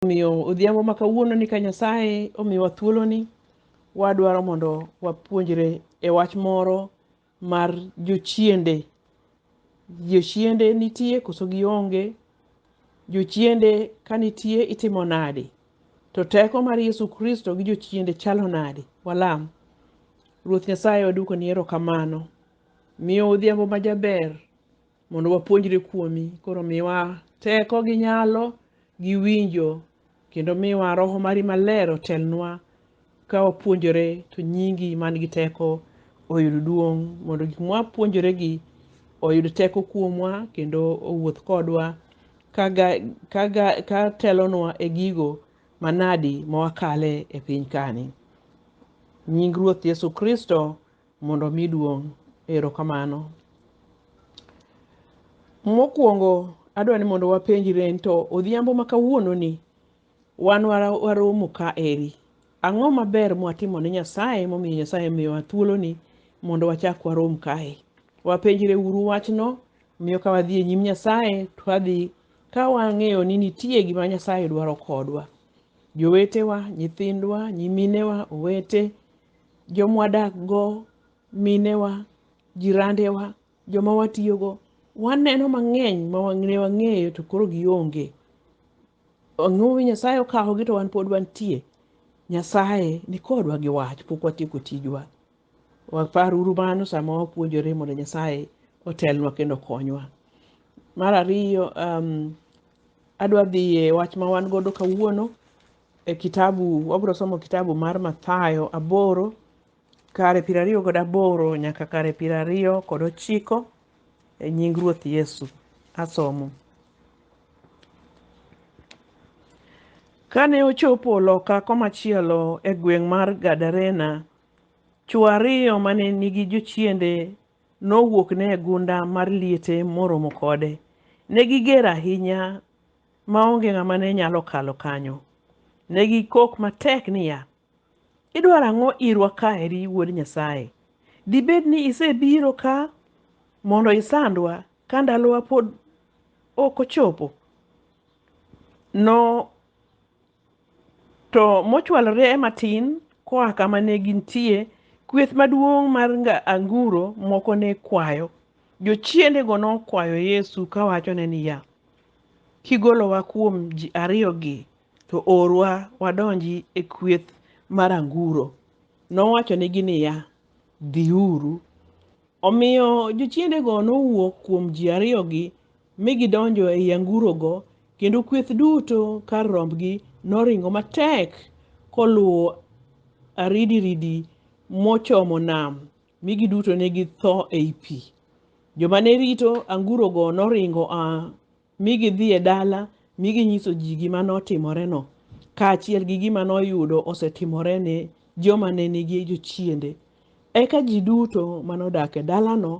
Omiyo odhiambo ma kawuono ni ka Nyasaye omiwa thuoloni, wadwaro mondo wapuonjre e wach moro mar jochiende. Jochiende nitie koso gionge? Jochiende ka nitie itimo nade? To teko mar Yesu Kristo gi jochiende chalo nade? Walam. Ruoth Nyasaye waduoko ni erokamano. Miyo odhiambo ma jaber mondo wapuonjre kuomi. Koro miwa teko gi nyalo gi winjo kendo miwa roho mari maler otelnwa ka wapuonjore to nyingi man gi teko oyud duong' mondo gik mwapuonjore gi oyud teko kuomwa kendo owuoth kodwa kaga, kaga, ka telonwa e gigo manadi ma wakale e piny kani. Nying Ruoth Yesu Kristo mondo omi duong'. Erokamano. Mokwongo adwa ni mondo wapenjre ni to odhiambo ma kawuononi wan wara- waromo ka eri. Ang'o maber mwatimo ne Nyasaye momiyo Nyasaye miyowa thuoloni mondo wachak warom kae? Wapenjre uru wachno miyo ka wadhi e nyim Nyasaye to wadhi ka wang'eyo ni nitie gima Nyasaye dwaro kodwa. Jowetewa, nyithindwa, nyiminewa, owete, jomwadakgo, minewa, jirandewa, joma watiyogo, waneno mang'eny ma ne wang'eyo to koro gionge. Ang'o mi Nyasaye okawogi to wan pod wantie? Nyasaye ni kodwa gi wach, pok watieko tijwa. Waparuru mano sama wapuonjore mondo Nyasaye otelnwa kendo okonywa. Mar ariyo, um, adwa dhi e wach ma wan godo kawuono e kitabu wabiro somo kitabu mar Mathayo aboro kare piero ariyo kod aboro nyaka kare piero ariyo kod ochiko e nying Ruoth Yesu. Asomo. Kane ochopo loka komachielo e gweng' mar Gadarena, chwo ariyo mane nigi jochiende nowuokne e gunda mar liete moromo kode. Ne giger ahinya ma onge ng'ama ne nyalo kalo kanyo. Ne gikok matek niya, Idwaro ang'o irwa ka eri Wuod Nyasaye? Dibed ni isebiro ka mondo isandwa ka ndalowa pod ok ochopo? To mochwalore e matin koa kama ne gintie, kweth maduong' mar nga- anguro moko ne kwayo. Jochiendego nokwayo Yesu kawachone niya, Kigolowa kuom ji ariyogi, to orwa wadonji e kweth mar anguro. Nowachonegi niya, Dhiuru. Omiyo jochiendego nowuok kuom ji ariyogi mi gidonjo ei angurogo, kendo kweth duto kar rombgi noringo matek koluwo aridiridi mochomo nam, mi giduto ne githo ei pi. Joma ne rito angurogo noringo a mi gidhi e dala mi ginyiso ji gima notimoreno, kaachiel gi gima noyudo osetimore ne joma ne nigi jochiende. Eka ji duto manodak e dalano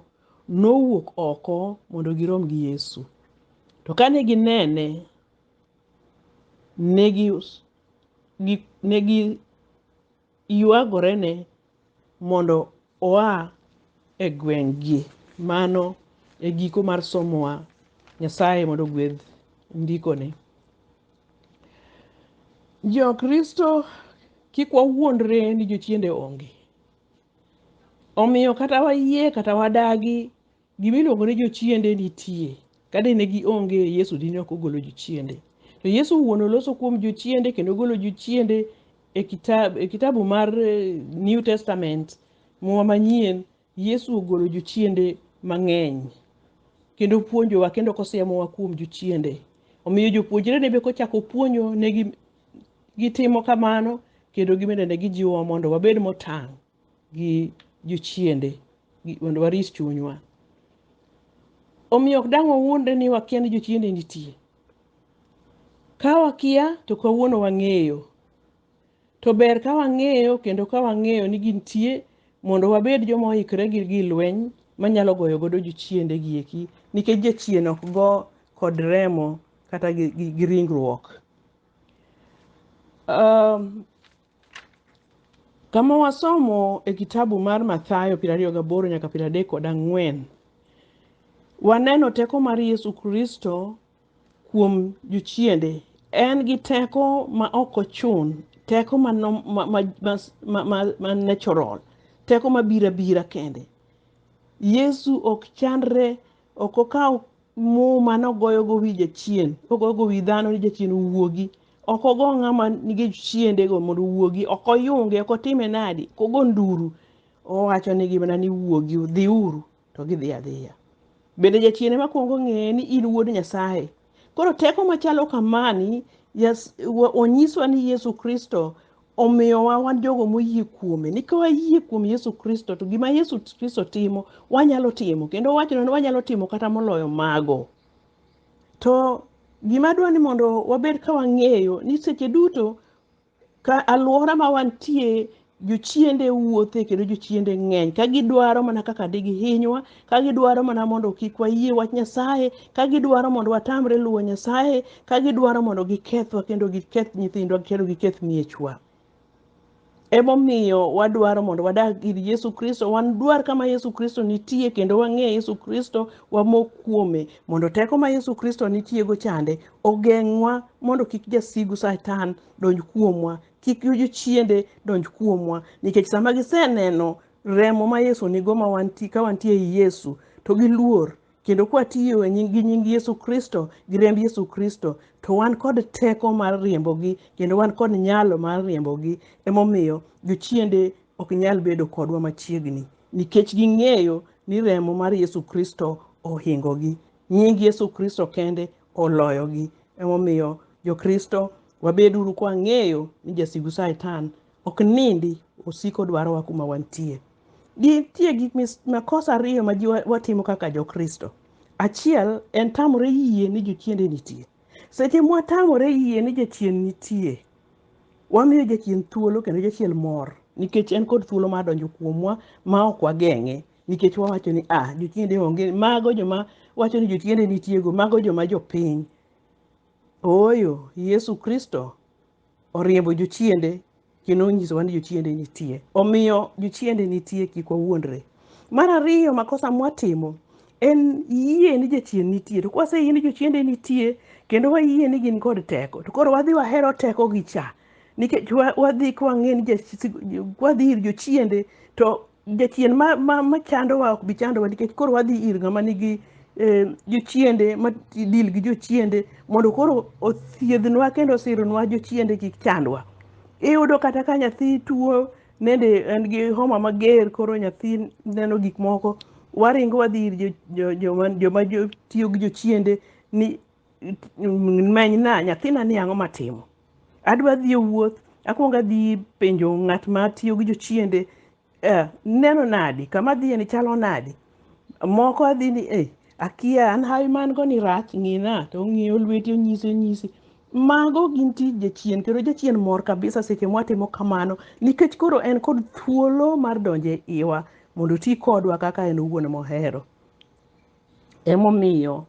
nowuok oko mondo girom gi Yesu. To kane ginene, ne gi gi- ne giywagorene mondo oa e gweng'gi. Mano e giko mar somowa. Nyasaye mondo ogwedh ndikoni. Jokristo kik wawuondre ni jochiende onge. Omiyo kata wayie kata wadagi gima iluongo ni jochiende nitie. Ka dine gionge Yesu dine ok ogolo jochiende. To Yesu wuon oloso kuom jochiende kendo ogolo jochiende e kitabu, e kitabu mar eh, New Testament, muma manyien, Yesu ogolo jochiende mang'eny kendo puonjowa kendo kosiemowa kuom jochiende. Omiyo jopuonjre ne be kochako puonjo negi gitimo kamano kendo gibende ne gijiwowa mondo wabed motang' gi jochiende gi- mondo warit chunywa omiyo ok dang' wawuondre ni wakia ni jochiende nitie ka wakia to kawuono wang'eyo to ber ka wang'eyo kendo ka wang'eyo ni gintie mondo wabed joma oikre gi gi lweny manyalo goyo godo jochiende gieki nikech jachien ok go kod remo kata gi, gi, gi ringruok Um, kama wasomo e kitabu mar Mathayo piero ariyo gaboro nyaka piero adek kod ang'wen waneno teko mar Yesu Kristo kuom jochiende. En gi teko ma ok ochun, teko ma, nom- ma, ma, ma, ma, ma, ma natural, teko ma bira bira kende. Yesu ok chandre, ok okawo Muma nogoyogo wi jachien, kogoyogo wi dhano ni jachien owuogi. Ok ogo ng'ama nigi chiendego mondo owuogi, ok oyunge, ok otime nadi, ok ogo nduru. Owacho nigi mana ni wuogi, dhiuru, to gidhi adhiya. Bende jachien ema kwongo ng'eye ni in wuod Nyasaye. Koro teko machalo kamani yas- wa- onyiswa ni Yesu Kristo omiyowa wan jogo moyie kuome ni ka wayie kuom yesu kristo to gima yesu kristo timo wanyalo timo kendo wachno ni wanyalo timo kata moloyo mago to gima dwa ni mondo wabed ka wang'eyo ni seche duto ka alwora ma wantie jochiende wuothe kendo jochiende ng'eny ka gidwaro mana kaka digihinywa ka gidwaro mana mondo kik wayie wach Nyasaye, ka gidwaro mondo watamre luwo Nyasaye, ka gidwaro mondo gikethwa kendo giketh nyithindwa kendo giketh miechwa. Emomiyo wadwaro mondo wadag ir Yesu Kristo, wadwar kama Yesu Kristo nitie kendo wang'e Yesu Kristo, wamok kuome mondo teko ma Yesu Kristo nitiego chande ogeng'wa mondo kik jasigu Satan donj kuomwa, kik jochiende donj kuomwa nikech sama giseneno remo ma Yesu nigo ma wanti, ka wantie ei Yesu to gi luor kendo kwatiyo e nying, gi nying Yesu Kristo gi remb Yesu Kristo to wan kod teko mar riembogi kendo wan kod nyalo mar riembogi. Emomiyo jochiende ok nyal bedo kodwa machiegni nikech ging'eyo ni remo mar Yesu Kristo ohingogi. Nying Yesu Kristo kende oloyogi. Emomiyo Jokristo wabeduru kwang'eyo ni jasigu Satan ok nindi osiko dwarowa kuma wantie nitie gik makosa ariyo ma ji watimo kaka jokristo achiel en tamore yie ni jochiende nitie seche mwatamore yie ni jachien nitie wamiyo jachien thuolo kendo jachien mor nikech en kod thuolo mar donjo kuomwa ma ok wageng'e nikech wawacho ni a jochiende onge mago joma wacho ni jochiende nitiego mago joma jopiny ooyo yesu kristo oriembo jochiende kendo onyisowa ni jochiende nitie. Omiyo jochiende nitie kik wawuondre. Mar ariyo makosa mwatimo en yie ni jachien nitie. To kwaseyie ni jochiende nitie kendo wayie ni gin kod teko to koro wadhi wahero tekogi cha nikech wa- wadhi kwang'e ni jasi- wadhi ir jochiende to jachien ma, ma, ma chandowa ok bi chandowa nikech koro wadhi ir ng'ama nigi eh, jochiende ma dil gi jochiende mondo koro othiedhnwa kendo osironwa jochiende kik chandwa iyudo kata ka nyathi tuo nende en gi homa mager koro nyathi neno gik moko waringo wadhi ir jo- jo- joma joma jo- tiyo gi jochiende ni menyna nyathina ni ang'o matimo adwa dhi e wuoth akwongo adhi penjo ng'at ma tiyo gi jochiende eh, neno nadi kama adhiye ni chalo nadi moko adhi ni eh, akia an hawi man go ni rach ng'ina to ong'iyo lweti onyisi onyisi mago gin tij jachien kendo jachien mor kabisa seche mwatimo kamano nikech koro en kod thuolo mar donjo e iwa mondo oti kodwa kaka en owuon mohero emomiyo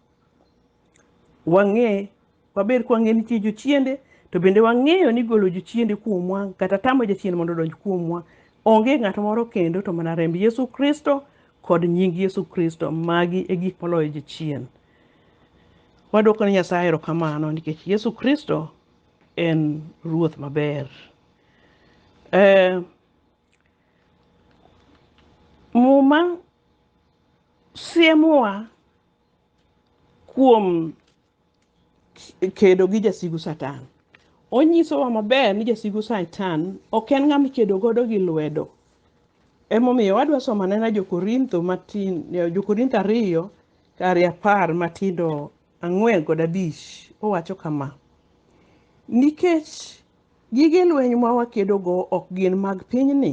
wang'e waber kwang'e nitie jochiende to bende wang'eyo ni golo jochiende kuomwa kata tamo jachien mondo odonj kuomwa onge ng'at moro kendo to mana remb yesu kristo kod nying yesu kristo magi e gik moloyo jachien wadwoko ne nyasaye erokamano nikech yesu kristo en ruoth maber eh, muma siemowa kuom kedo gi jasigu Satan. Onyisowa maber ni jasigu Satan ok en ng'ama ikedo godo gi lwedo. Emomiyo wadwa somo anena Jokorintho matin, Jokorintho ariyo kare apar matindo ang'wen kod abich. Owacho kama, nikech gige lweny ma wakedogo ok gin mag pinyni,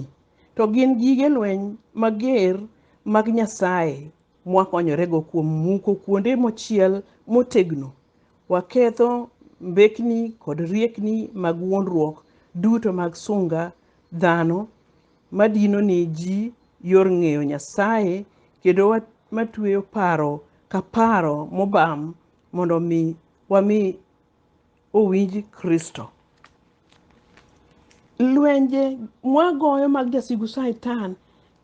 to gin gige lweny mager mag Nyasaye mwakonyorego kuom muko kuonde mochiel motegno, waketho mbekni kod riekni mag wuondruok duto mag sunga dhano madino ne ji yor ng'eyo Nyasaye kendo wa- matueyo paro ka paro mobam mondo mi wami owinj Kristo. Lwenje mwagoyo mag jasigu Satan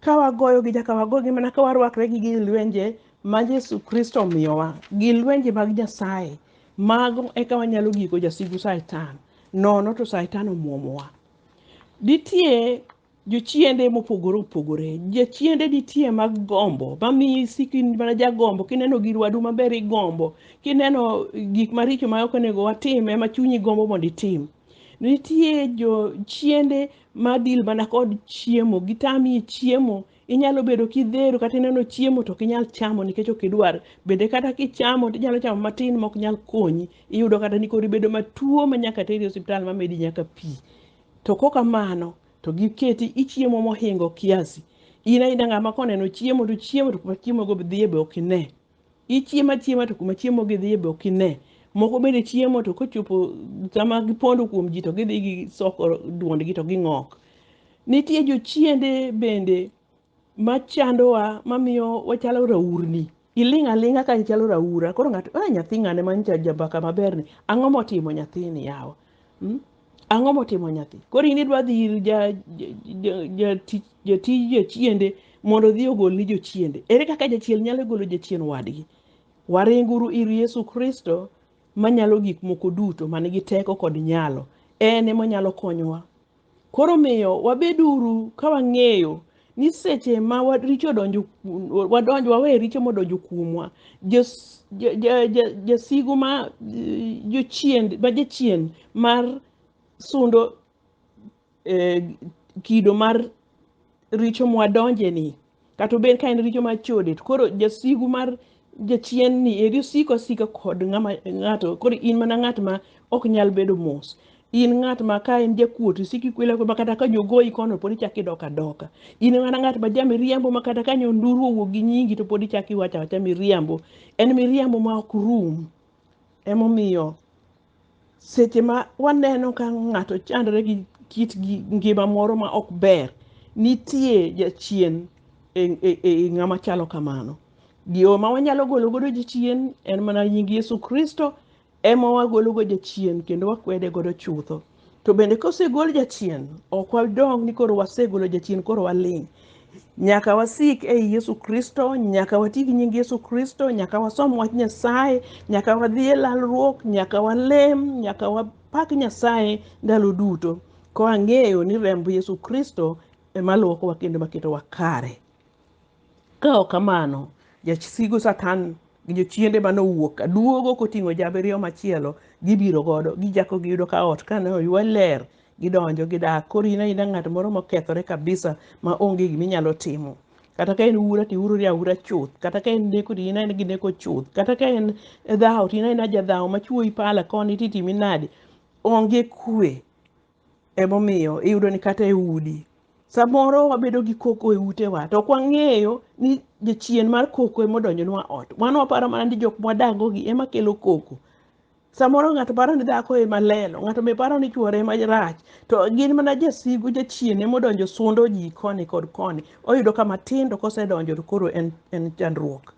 ka wagoyo gi jaka wagogi mana ka warwakre gi gi lwenje ma Yesu Kristo omiyowa gi lwenje mag Nyasaye mago eka wanyalo giko jasigu Satan nono to Satan omwomowa. Ditie jochiende mopogore opogore jochiende nitie mag gombo mamiyo isiko in mana jagombo kineno gir wadu maber igombo kineno gik maricho ma ok onego watim ema chunyi gombo mondo itim nitie jochiende madil mana kod chiemo gitami chiemo inyalo bedo kidhero kata ineno chiemo to ok inyal chamo nikech ok idwar bende kata kichamo to inyalo chamo matin ma ok nyal konyi iyudo kata ni koro ibedo matuo ma nyaka teri e osiptal mamedi nyaka pi To kok kamano to giketi ichiemo mohingo kiasi. In aina ng'ama koneno chiemo to chiemo to kuma chiemo go dhiye be ok ine. Ichiemo achiema to kuma chiemo gi dhiye be ok ine. Moko bende chiemo to kochopo sama gipondo kuom ji to gidhi gisoko duondgi to ging'ok. Nitie jochiende bende machandowa mamiyo wachalo raurni iling' aling'a ka ichalo raura koro ng'ato a nyathi ng'ane ma ncha jambaka maberni ang'o motimo nyathini yawa mm? ang'o motimo nyathi koro in idwa dhi ir ja- ja- ja- jati- jatij jachiende mondo odhi ogolni jochiende ere kaka jachiel nyalo golo jachien wadgi waringuru ir yesu kristo manyalo gik moko duto man gi teko kod nyalo en emonyalo konyowa Koro miyo wabeduru ka wang'eyo ni seche ma richo odonjo wadonjo wawe richo modonjo kuomwa jasigu ma jochien ma jachien mar sundo kido mar richo mwadonje ni Kata obed ka en richo mar chode, to koro jasigu mar jachien ni eri osiko asika kod ng'ama ng'ato koro in mana ng'at ma ok nyal bedo mos in ng'at ma ka en jakuot isiki kwela ma kata ka jogoyi kono pod ichak idok adoka in mana ng'at ma ja miriambo ma kata ka nyonduru owuok gi nyingi to pod ichak iwacho awacha miriambo en miriambo ma ok rum emomiyo Seche ma waneno ka ng'ato chandore gi kit ngima moro ma ok ber, nitie jachien e, e, e ng'ama chalo kamano. Yo ma wanyalo golo godo jachien en mana nying Yesu Kristo ema wagolo godo jachien kendo wakwede godo chutho. To bende kosegol jachien, ok wadong' ni koro wasegolo jachien koro waling'. Nyaka wasik ei Yesu Kristo, nyaka wati gi nying Yesu Kristo, nyaka wasom wach Nyasaye, nyaka wadhi e lalruok, nyaka walem, nyaka wapak Nyasaye ndalo duto, ka wang'eyo ni remb Yesu Kristo ema luokowa kendo maketowa kare. Ka ok kamano, jasigu Satan gi jochiende mane owuok aduogo koting'o jabiriyo machielo, gibiro godo, gichako giyudo ka ot kane oywe ler, gidonjo gidak koro in aina ng'at moro mokethore kabisa ma onge gima inyalo timo kata ka en ura to iurori aura chuth kata ka en neko to in aina gi neko chuth kata ka en dhawo to in aina jadhawo ma chuoyi pala koni to itimi nade onge kwe emomiyo iyudo ni kata e udi samoro wabedo gi koko e utewa to ok wang'eyo ni jachien mar koko ema odonjonwa ot wan waparo mana ni jok mwadagogi ema kelo koko Samoro ng'ato paro ni dhako ema lelo, ng'ato be paro ni chuore ema rach, to gin mana jasigu jachien ema odonjo sundo ji koni kod koni. Oyudo ka matindo kosedonjo to koro en, en chandruok.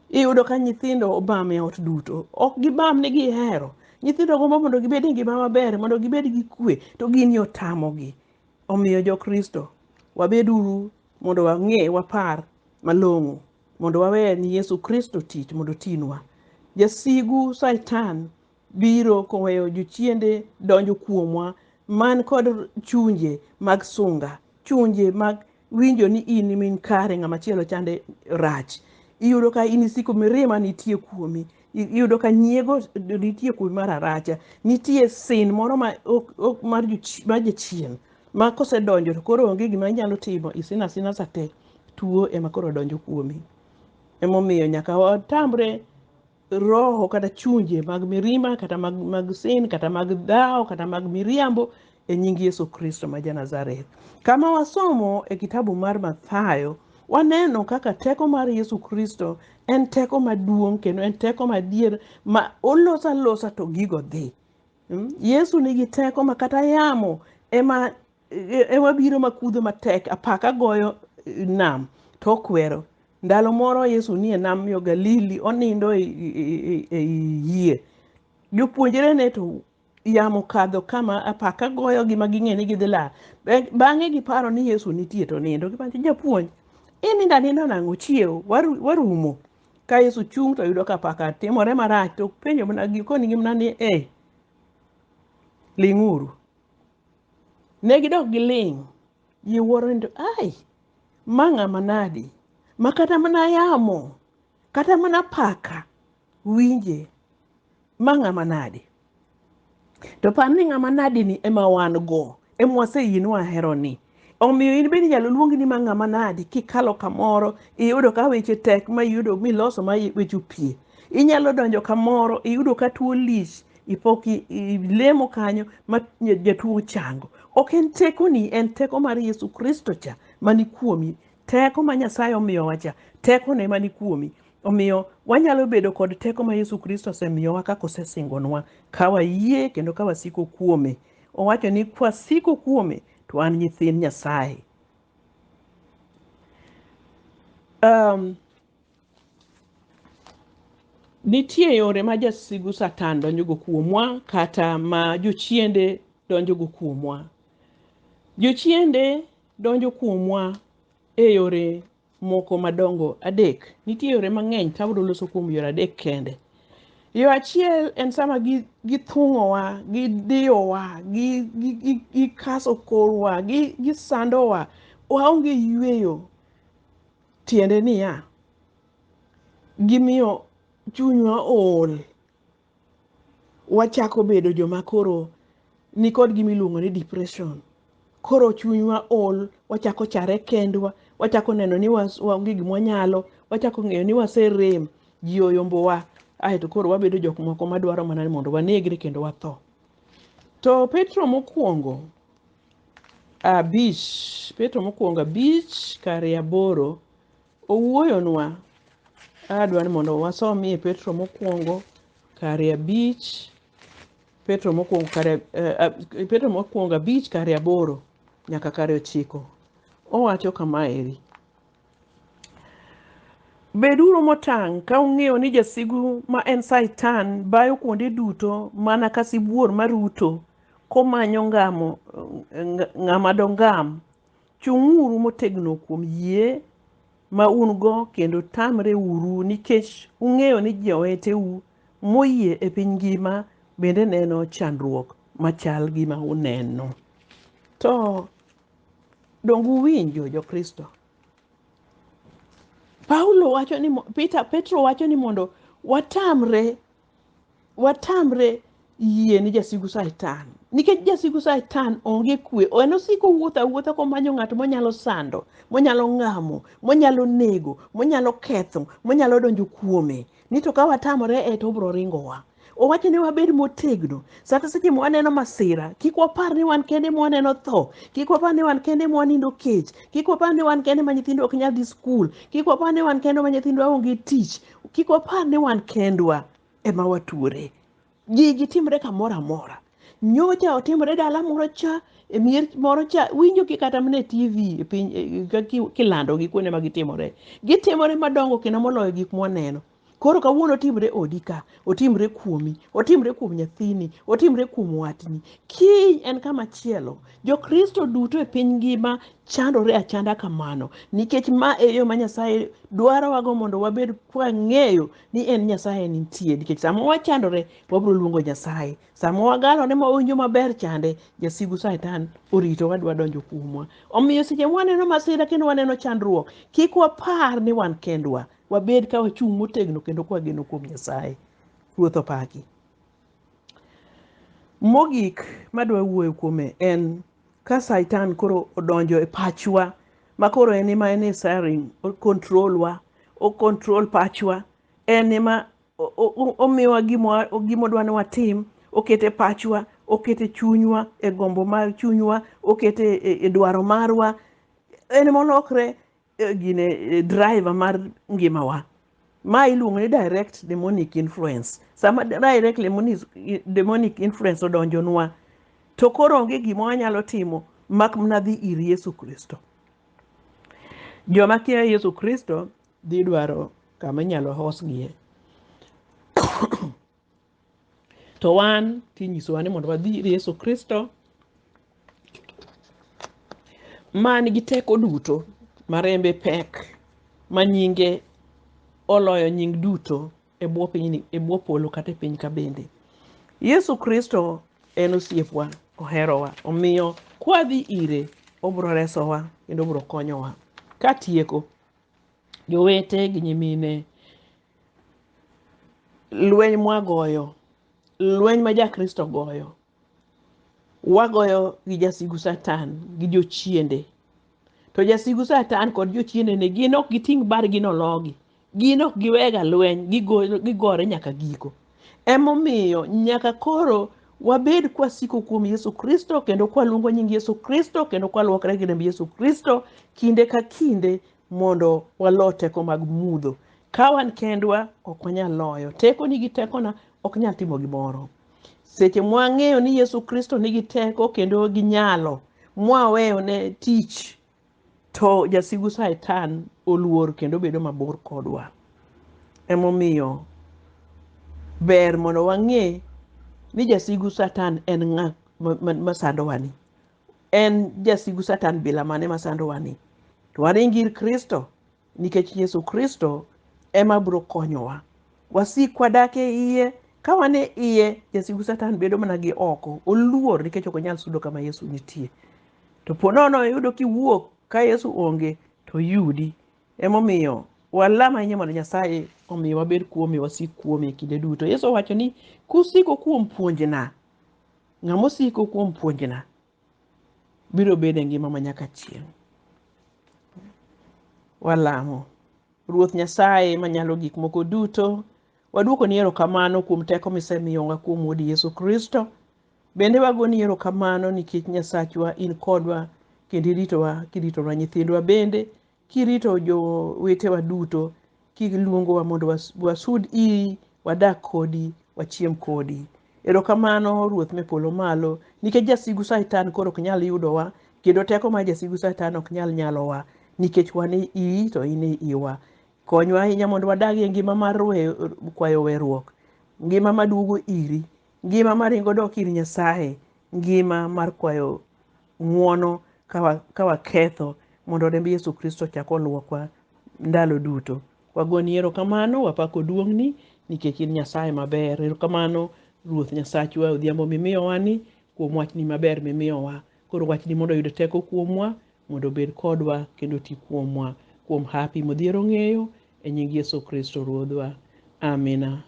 Iyudo ka nyithindo obam e ot duto. Ok gibam ni gihero. Nyithindo gombo mondo gibed e ngima maber, mondo gibed gi kwe, to gini otamogi. Omiyo jo Kristo, wabeduru mondo wang'e, wapar malong'o. mondo wawe ni Yesu Kristo tich mondo otinwa. Jasigu Satan biro koweyo jochiende donjo kuomwa man kod chunje mag sunga, chunje mag winjo ni in min kare ng'ama chielo chande rach. Iyudo ka in isiko mirima nitie kuomi. I- Iyudo ka nyiego nitie kuomi mar aracha. Nitie sin moro ma ok- ok- mar jochi- mar jachien ma kosedonjo to koro onge gima inyalo timo isin asina sate. tuo ema koro donjo kuomi. Emomiyo nyaka watamre roho kata chunje mag mirima kata mag, mag sin kata mag dhawo kata mag miriambo e nying Yesu Kristo ma Janazareth. Kama wasomo e kitabu mar Mathayo, waneno kaka teko mar Yesu Kristo en teko maduong' kendo en teko madier ma olosa losa to gigo dhi. Mm? Yesu nigi teko ma kata yamo ema e- ema biro makudho matek apaka goyo eh, nam to okwero ndalo moro yesu nie nam yo galili onindo e- e- e- ei yie jopuonjrene to yamo kadho kama apaka goyogi ma ging'e ni gidhi lal Be- bang'e giparo ni yesu nitie to nindo giwacho japuonj inindo aninda nang'o chiewo waru- warumo ka yesu chung' to yudo ka apaka timore marach to penjo mana gi- konigi mana ni e ling'uru Ne gidok giling'. Ji wuoro ni to ai, ma ng'ama nadi ma kata mana yamo kata mana paka winje, ma ng'ama nadi. To par ni ng'ama nadi ni ema wan go, ema waseyie ni wahero ni. Omiyo in bende inyalo luongi ni ma ng'ama nadi kikalo kamoro iyudo ka weche tek ma iyudo miloso ma weche opie. Inyalo donjo kamoro iyudo ka tuo lich ipok i- ilemo kanyo ma nya- jatuo chango ok en tekoni en teko mar yesu kristo cha mani kuomi teko ma nyasaye omiyowa cha tekone mani kuomi omiyo wanyalo bedo kod teko ma yesu kristo osemiyowa kaka osesingonwa ka wayie kendo ka wasiko kuome owacho ni kwasiko kuome to an nyithind nyasaye um, Nitie yore ma jasigu Satan donjogo kuomwa kata ma jochiende donjogo kuomwa. Jochiende donjo kuomwa e yore moko madongo adek. Nitie yore mang'eny to abiro loso kuom yore adek kende. Yo achiel en sama gi- githung'owa, gidiyowa, gi- gi- gi- gikaso korwa, gi- gisandowa, waonge yueyo. Tiende niya, gimiyo chunywa ool. Wachako bedo joma koro nikod gima iluongo ni depression. Koro chunywa ool, wachako chare kendwa, wachako neno ni waonge gima wanyalo, wachako ng'eyo ni waserem, ji oyombowa, aeto koro wabedo jok moko madwaro mana ni mondo wanegre kendo watho. To Petro mokwongo abich Petro mokwongo abich kare aboro owuoyonwa adwa ni mondo wasomie Petro mokwongo kare abich Petro mokwongo kare eh, ab- Petro mokwongo abich kare aboro nyaka kare ochiko owacho kama eri Beduru motang' ka ung'eyo ni jasigu ma en Satan bayo kuonde duto mana ka sibuor maruto komanyo ngamo ng- ng'ama dongam. Chung'uru motegno kuom yie ma un-go kendo tamreuru nikech ung'eyo ni joweteu moyie e piny ngima bende neno chandruok machal gi ma uneno. To Donge uwinjo Jokristo? Paulo wacho ni Peter, Petro wacho ni mondo watamre watamre yie ni jasigu Satan nikech jasigu Satan onge kwe en osiko wuotho awuotha komanyo ng'at monyalo sando monyalo ng'amo monyalo nego monyalo ketho monyalo donjo kuome ni to ka watamore e to obro ringowa owacho ni wabed motegno sata seche ma waneno masira kik wapar ni wan kende ma waneno tho kik wapar ni wan kende ma wanindo kech kik wapar ni wan kende ma nyithindo ok nyal dhi skul kik wapar ni wan kende ma nyithindwa onge tich kik wapar ni wan kendwa ema watuore gigi timre kamoro amora nyocha otimore dala moro cha e mier moro cha winjo ki kata mana e tv e piny e- e- ka ki- kilando gi kuonde ma gitimore gitimore madongo kendo moloyo gik mwaneno Koro kawuono otimre odi ka, otimre kuomi, otimre kuom nyathini, otimre kuom watni. Kiny en kama chielo. Jokristo duto e piny ngima chandore achanda kamano nikech ma e yo ma Nyasaye dwarowago mondo wabed kwang'eyo ni en Nyasaye nitie. Nikech sama wachandore, wabiro luongo Nyasaye. Sama wagalone ma wawinjo maber chande, jasigu Satan orito wadwa donjo kuomwa. Omiyo seche ma waneno masira kendo waneno chandruok, kik wapar ni wan kendwa. wabed ka wachung' motegno kendo ka wageno kuom nyasaye ruoth opaki mogik madwa wuoyo kuome en ka saitan koro odonjo e pachwa ma koro en ema en e saring okontrolwa okontrol pachwa en ema o- o- o- omiyowa gima- gimodwa ni watim okete pachwa okete chunywa e gombo mar chunywa okete e- e dwaro marwa en molokre eh, gine eh, driver mar ngimawa ma iluongo ni direct demonic influence sama direct demonic- demonic influence odonjonwa to koro onge gima wanyalo timo mak mana dhi ir yesu kristo joma kia yesu kristo dhi dwaro kama inyalo hosgie to wan tinyisowa ni mondo wadhi ir Yesu Kristo man gi teko duto ma rembe pek ma nyinge oloyo nying duto e bwo piny e bwo polo kata e piny ka bende. Yesu Kristo en osiepwa, oherowa, omiyo kwadhi ire obro resowa kendo obro konyowa. Katieko, jowete gi nyimine lweny mwagoyo lweny ma jakristo goyo wagoyo gi jasigu satan gi jochiende to jasigu satan kod jochiendene gin ok giting' bargi nologi gin ok giwega lweny gigo- gigore nyaka giko emomiyo nyaka koro wabed kwasiko kuom yesu kristo kendo kwaluongo nying yesu kristo kendo kwaluokre gi remb yesu kristo kinde ka kinde mondo walo teko mag mudho. Ka wan kendwa, ok wanyal loyo. Tekoni gi tekona ok nyal timo gimoro. Seche mwang'eyo ni Yesu Kristo nigi teko kendo gi nyalo, mwaweyo ne tich, to jasigu Satan oluor kendo bedo mabor kodwa. Emomiyo ber mondo wang'e ni jasigu Satan en ng'a ma- ma- masandowani. en jasigu satan bila mane masandowa ni to waring ir kristo nikech yesu kristo ema biro konyowa wasik wadak e iye ka wan e iye jasigu satan bedo mana gi oko oluor nikech ok onyal sudo kama yesu nitie to po nono iyudo kiwuok ka yesu onge to yudi emomiyo walam ahinya mondo nyasaye omiyo wabed kuome wasik kuome kinde duto yesu owacho ni kusiko kuom puonjna Ng'ama osiko kuom puonjna biro bedo e ngima ma nyaka chieng'. Walamo. Ruoth Nyasaye manyalo gik moko duto, waduokoni erokamano kuom teko misemiyowa kuom Wuodi Yesu Kristo. Bende wagoni erokamano nikech Nyasachwa in kodwa kendo iritowa kiritonwa nyithindwa bende kirito jowetewa duto kiluongowa mondo was- wasud iri wadak kodi wachiem kodi erokamano ruoth me polo malo nikech jasigu satan koro ok nyal yudowa kendo teko mar jasigu satan ok nyal nyalowa nikech wan e iyi to in e iwa konywa ahinya mondo wadag e ngima mar we- kwayo weruok ngima maduogo iri ngima maringo dok ir nyasaye ngima mar kwayo ng'wono ka waketho mondo remb Yesu Kristo chak olwokwa ndalo duto. Wagoni erokamano, wapako duong'ni nikech in Nyasaye maber. Erokamano Ruoth Nyasachwa odhiambo mimiyowani kuom wachni maber mimiyowa. Koro wachni mondo oyud teko kuomwa mondo obed kodwa kendo oti kuomwa kuom hapi modhier ong'eyo e nying Yesu Kristo Ruodhwa. Amina.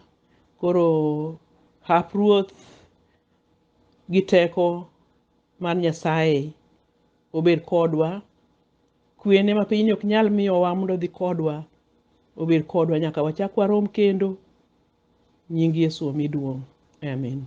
Koro hap Ruoth gi teko mar Nyasaye obed kodwa. Kwene ma pinyni ok nyal miyowa mondo odhi kodwa, obed kodwa nyaka wachak warom kendo. Nying Yesu omi duong'. Amin.